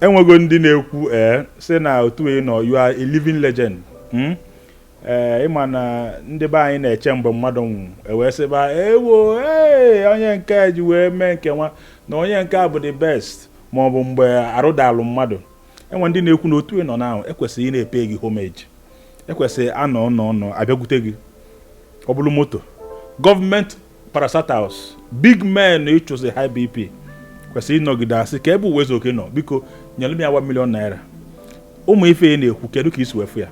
enwego ndị na-ekwu ee eh, sị na otu ị nọ you are a living legend hmm? ee eh, ịma na ndị be anyị na-eche mgbe mmadụ nwụ ewee sịba ewo ee onye nke ji wee mee nke nwa na onye nke a bụ the best ma ọ bụ mgbe arụ dalụ mmadụ enwe ndị na-ekwu na otu ị nọ n'ahụ ekwesịrị ị na-epe gị homage ekwesịrị anọ nọ nọ abịakwute gị ọ bụrụ moto gọọmenti parastatals big men ị chụsị high bp kwesịrị ịnọgide asị kee ebe Uwaezuoke nọ biko nyere m ya 1 million naira ụmụ ife a na-ekwu kedu ka i si wee fụ ya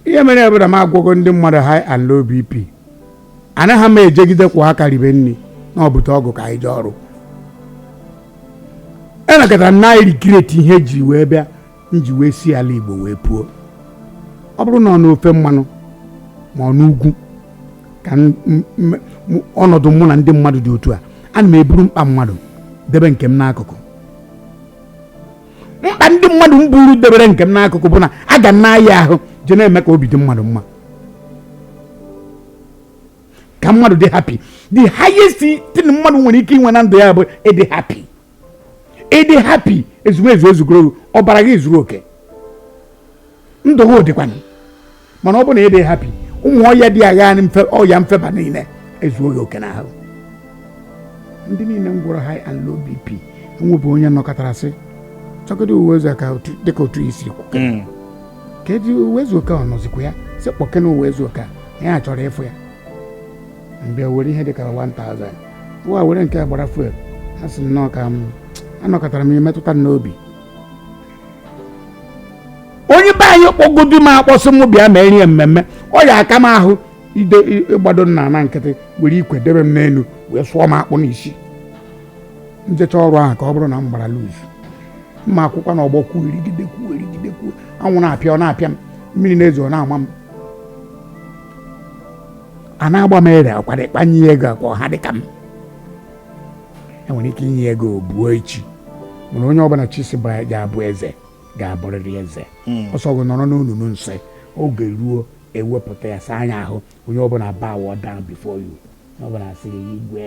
ihe mere bụ na m agwọgo ndị mmadụ high and low bp anaghị m ejegide kwọ aka ribe nri na ọ bute ọgụ ka anyị jee ọrụ enekọtara m na-e regret ihe jiri wee bịa m ji wee si ala Igbo wee puo ọ bụrụ na ọ n'ofe mmanụ ma ọ n'ugwu ka ọnọdụ mụ na ndị mmadụ dị otu a ana m eburu mkpa mmadụ debe nke m n'akụkụ mkpa ndị mmadụ m buru debere nke m n'akụkụ bụ na aga m na-aya ahụ je na-eme ka obi dị mmadụ mma ka mmadụ dị happy the highest thing mmadụ nwere ike inwe na ndụ ya bụ ịdị happy ịdị happy ezumezu ezugoro ọbara gị zuru oke ndụ gị dịkwana mana ọ bụ na ịdị happy ụmụ ọya dị agha ọya mfeba niile ezuoghị oke n'ahụ ndị niile m gwọrọ high and low bp enwebụ onye nọkọtara sị chọgide Uwaezuoke dịka otu i si kwu hmm. ka eji Uwaezuoke ọ nọzikwa ya sị kpọkene Uwaezuoke ya chọrọ ịfụ ya m bịa were ihe dịka 1000 nwa were nke gbara fuel a sị nnọọ ka m anọkọtara m imetụta n'obi onye be anyị kpọgodu m akpọ sị m bịa ma erie mmemme ọ ya aka m ahụ ide ịgbado nna na nkịtị were ikwe debe m n'elu wee sụọ m akpụ n'isi m jecha ọrụ ahụ ka ọ bụrụ na m gbara lose m akwụkwa n'ọgbọ kwụrụgide kwụrụgide kwụrụ anwụ na-apịa ọ na-apịa m mmiri na-ezo ọ na-ama m a na-agba m ere akwara ịkpanye ya ego akwa ha dịka m enwere ike inye ego buo echi mana onye ọbụla Chi sị ga-abụ eze ga-abụrịrị eze hmm. ọ sọ gị nọrọ n'olulu nsị oge ruo ewepụta ya saa ya ahụ onye ọbụla bow down before you onye ọbụla asị igwe